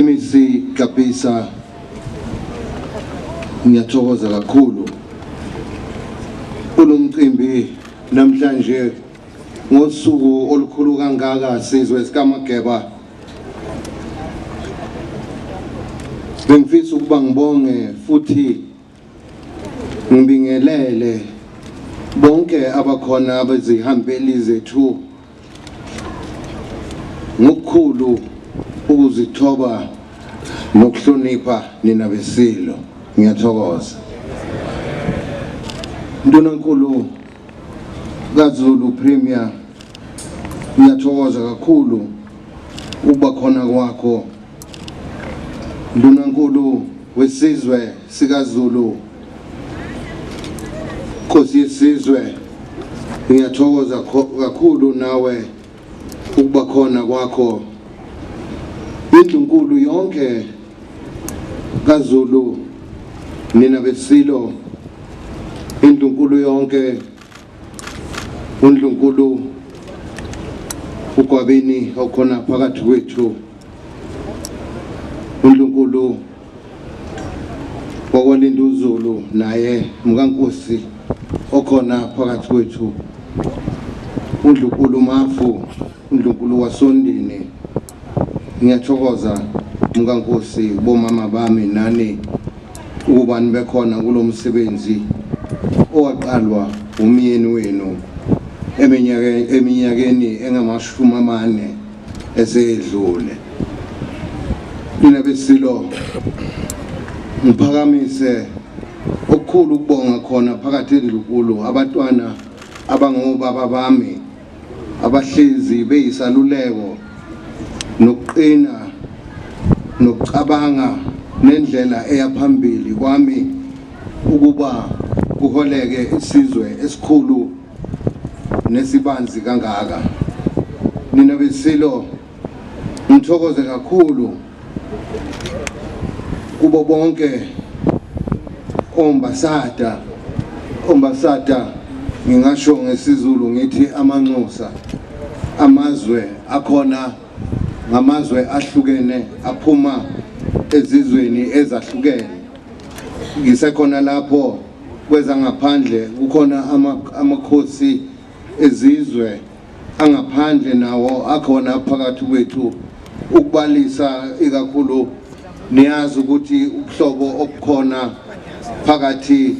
MEC Kapisa ngiyathokoza kakhulu kulomcimbi namhlanje ngosuku olukhulu kangaka sizwe sikamageba bengifisa ukuba ngibonge futhi Ngibingelele bonke abakhona abezihambeli zethu ngokukhulu ukuzithoba nokuhlonipha nina besilo ngiyathokoza ntonankulu kaZulu Premier ngiyathokoza kakhulu ukuba khona kwakho ndunankulu wesizwe sikaZulu Nkosi yesizwe ngiyathokoza kakhulu nawe ukuba khona kwakho indlunkulu yonke kaZulu nina besilo indlunkulu yonke undlunkulu ugwabini okhona phakathi kwethu undlunkulu Ngokwelinda uZulu naye mkankosi okhona phakathi kwethu uNdlunkulu Mafu uNdlunkulu wasondini ngiyathokoza mkankosi bomama bami nani ukuba nibekhona kulo msebenzi owaqalwa umyeni wenu eminyakeni engamashumi amane esedlule mina besilo ngiphakamise okukhulu ukubonga khona phakathi endlukulu abatwana abangobaba bami abahlezi beyisaluleko nokuqina nokucabanga nendlela eyaphambili kwami ukuba kuholeke isizwe esikhulu nesibanzi kangaka nina besilo ngithokoze kakhulu kubo bonke ombasada ombasada ngingasho ngesizulu ngithi amanxusa amazwe akhona ngamazwe ahlukene aphuma ezizweni ezahlukene ngisekhona lapho Kwezangaphandle kukhona amakhosi ezizwe angaphandle nawo akhona phakathi kwethu ukubalisa ikakhulu niyazi ukuthi ubuhlobo obukhona phakathi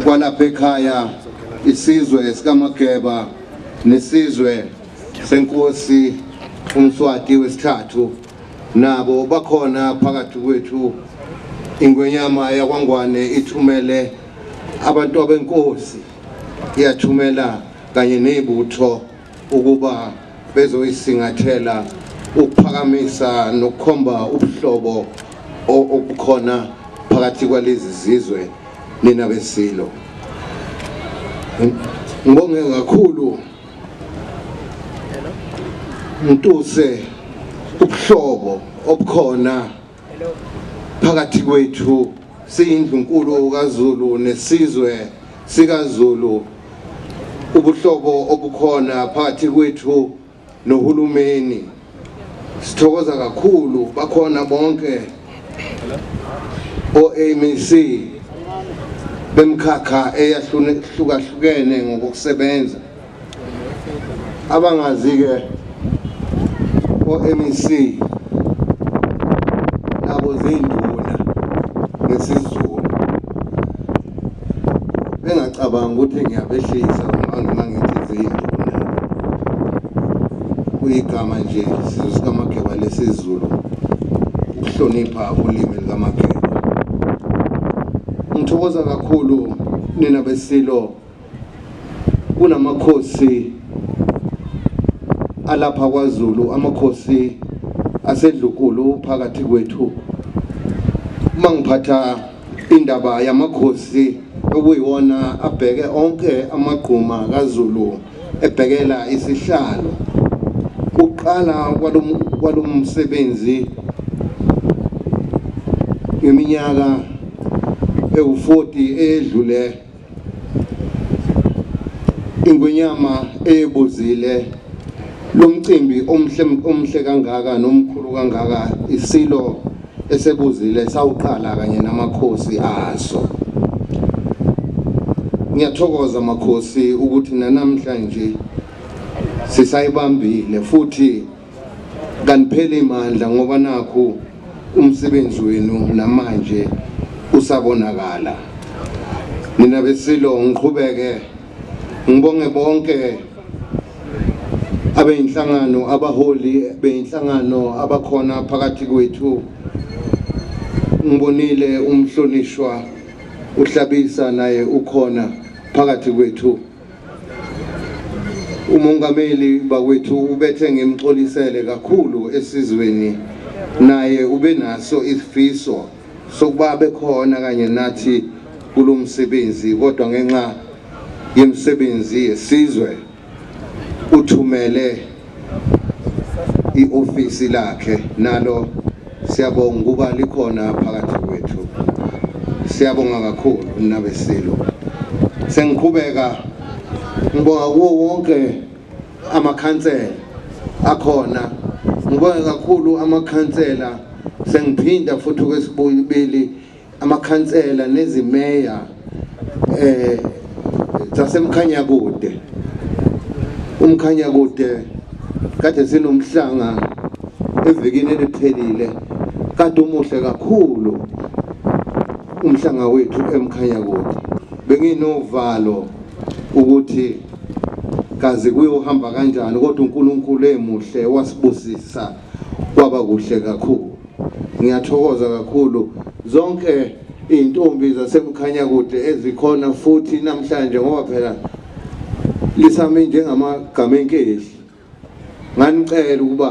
kwalapha ekhaya isizwe sikamageba nesizwe senkosi umswati wesithathu nabo bakhona phakathi kwethu ingwenyama yakwangwane ithumele abantu abenkosi iyathumela kanye nezibutho ukuba bezoyisingathela ukuphakamisa nokukhomba ubuhlobo obukhona phakathi kwalezi zizwe nina besilo ngibonge kakhulu Mtuse ubuhlobo obukhona phakathi kwethu siyindlunkulu kaZulu nesizwe sikaZulu ubuhlobo obukhona phakathi kwethu nohulumeni Sithokoza kakhulu bakhona bonke oMEC bemkhakha eyahlukahlukene ngokusebenza abangazi ke oMEC nabo zinduna ngesizulu bengacabanga ukuthi ngiyabehlisa uma ngithi ziyinduna kuyigama nje sizwe sikamageba lesizulu ukuhlonipha ulimi likamageba ngithokoza kakhulu nina besilo kunamakhosi alapha kwaZulu amakhosi asedlukulu phakathi kwethu uma ngiphatha indaba yamakhosi okuyiwona abheke onke amagquma kaZulu ebhekela isihlalo uqala kwalomsebenzi ngeminyaka ewu40 edlule Ingwenyama eyebuzile lo mcimbi omhle omhle kangaka nomkhulu kangaka isilo esebuzile sawuqala kanye namakhosi aso ngiyathokoza makhosi ukuthi nanamhlanje sisayibambile futhi kanipheli imandla ngoba nakhu umsebenzi wenu namanje usabonakala nina besilo ngiqhubeke ngibonge bonke abeyinhlangano abaholi beyinhlangano abakhona phakathi kwethu ngibonile umhlonishwa uhlabisa naye ukhona phakathi kwethu umongameli bakwethu ubethe ngimxolisele kakhulu esizweni naye ube naso isifiso sokuba bekhona kanye nathi kulo msebenzi kodwa ngenxa yemisebenzi yesizwe uthumele iofisi lakhe nalo siyabonga ukuba likhona phakathi kwethu siyabonga kakhulu nabesilo sengiqhubeka ngibonga kuwo wonke amakhansela akhona ngibonga kakhulu amakhansela sengiphinda futhi kwesibuyibili amakhansela nezimeya eh zasemkhanya kude umkhanya kude kade sinomhlanga evikini eliphelile kade umuhle kakhulu umhlanga wethu emkhanya kude benginovalo ukuthi kazi kuyohamba kanjani kodwa uNkulunkulu emuhle wasibusisa kwaba kuhle kakhulu Ngiyathokoza kakhulu zonke iy'ntombi zasemkhanya kude ezikhona futhi namhlanje ngoba phela lisame njengamagama enkehli nganicela ukuba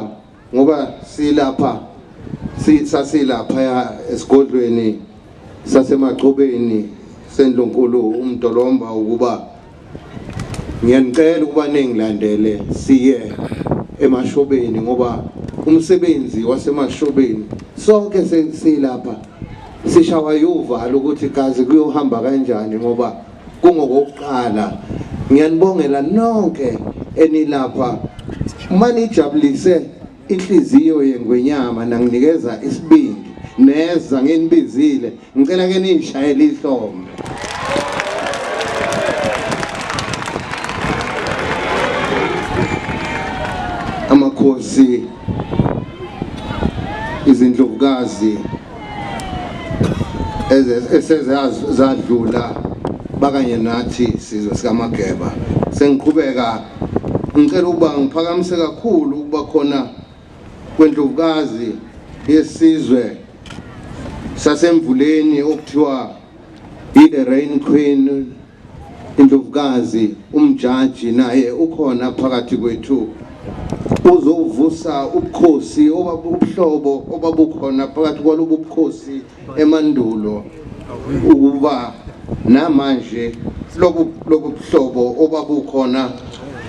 ngoba silapha sasilapha esigodlweni sasemachobeni sendlunkulu umdolomba ukuba ngiyanicela ukuba ningilandele siye emashobeni ngoba umsebenzi wasemashobeni sonke silapha sishawa yuvalo ukuthi kazi kuyohamba kanjani ngoba kungokokuqala ngiyanibongela nonke enilapha manijabulise inhliziyo yengwenyama nanginikeza isibindi neza nginibizile ngicela ke nishayele ihlombe amakhosi izindlovukazi esezadlula bakanye nathi sizwe sikamageba sengiqhubeka Ngicela ukuba ngiphakamise kakhulu ukuba khona kwendlovukazi yesizwe sasemvuleni okuthiwa i-the rain queen indlovukazi umjaji naye ukhona phakathi kwethu uzovusa ubukhosi obabuhlobo obabukhona phakathi kwalobu bukhosi emandulo ukuba namanje lobu lobu buhlobo obabukhona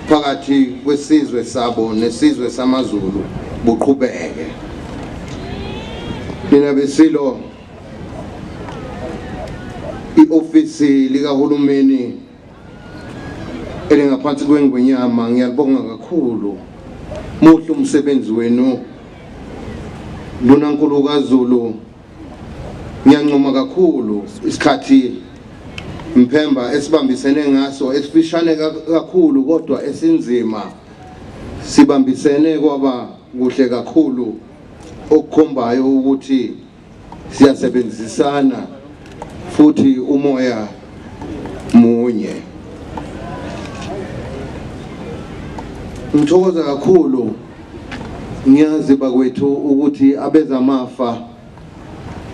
phakathi kwesizwe sabo nesizwe samaZulu buqhubeke mina besilo iofisi likahulumeni elingaphansi kwengwenyama ngiyalibonga kakhulu muhle umsebenzi wenu lona nkulu kaZulu ngiyancoma kakhulu isikhathi mphemba esibambisene ngaso esifishane kakhulu kodwa esinzima sibambisene kwaba kuhle kakhulu okukhombayo ukuthi siyasebenzisana futhi umoya munye ngithokoza kakhulu ngiyazi bakwethu ukuthi abezamafa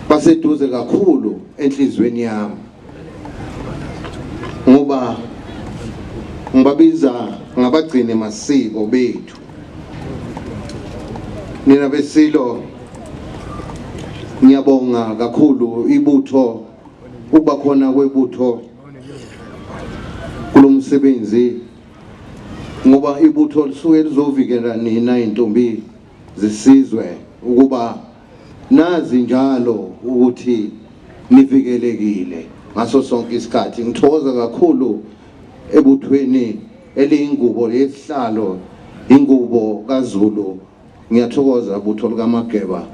baseduze kakhulu enhlizweni yami ngoba ngibabiza ngabagcini masiko bethu nina besilo ngiyabonga kakhulu ibutho ukuba khona kwebutho kulomsebenzi ngoba ibutho lisuke lizovikela nina intombi zisizwe ukuba nazi njalo ukuthi nivikelekile ngaso sonke isikhathi ngithokoza kakhulu ebuthweni eliyingubo yesihlalo ingubo kaZulu ngiyathokoza butho lukaMageba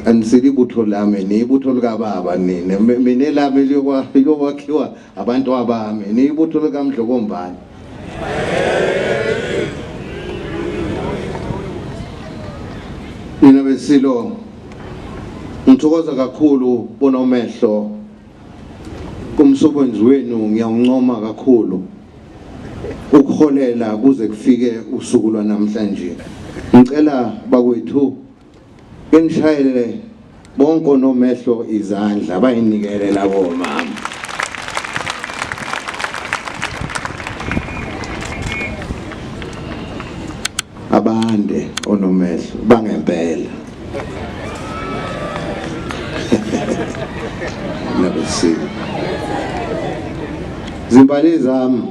anisili ibutho lami niyibutho likababa nina mina elami liyokwakhiwa Abantu abami niyibutho likaMdlokombane. Nina besilo ngithokoza kakhulu bona umehlo kumsebenzi wenu ngiyawuncoma kakhulu ukuholela kuze kufike usuku lwanamhlanje ngicela bakwethu Benishayele bonke onomehlo izandla bayinikele labo mama. Abande onomehlo bangempela. Nabesini. Zimbali zami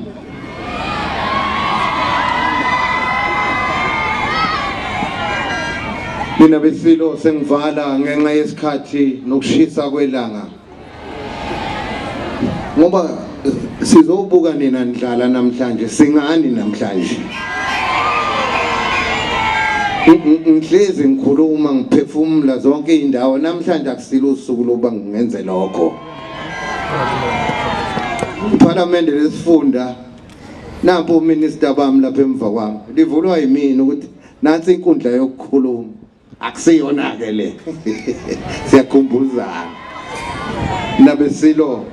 Mina besilo sengivala ngenxa yesikhathi nokushisa kwelanga. Ngoba sizobuka nina ndlala namhlanje singani namhlanje. Ngihlezi ngikhuluma ngiphefumula zonke izindawo namhlanje akusilo usuku lokuba ngingenze lokho. Iphalamende lesifunda nampo uminister bami lapha emva kwami livulwa yimina ukuthi nansi inkundla yokukhuluma akusiyona ke le siyakhumbuzana nabesilo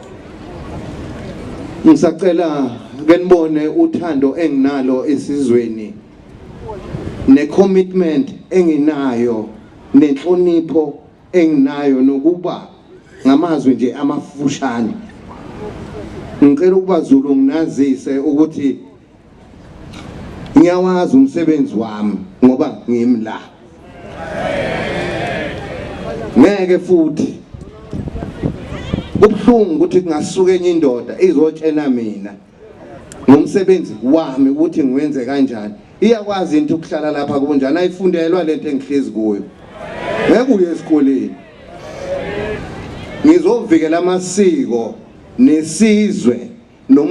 ngisacela ke nibone uthando enginalo esizweni necommitment enginayo nenhlonipho enginayo nokuba ngamazwi nje amafushane ngicela ukuba Zulu nginazise ukuthi ngiyawazi umsebenzi wami ngoba ngimi la ngeke futhi ubuhlungu ukuthi kungasuka enye indoda izotshena mina ngomsebenzi wami ukuthi ngiwenze kanjani iyakwazi into ukuhlala lapha kunjani ayifundelwa lento engihlezi kuyo ngeke uye esikoleni ngizovikela amasiko nesizwe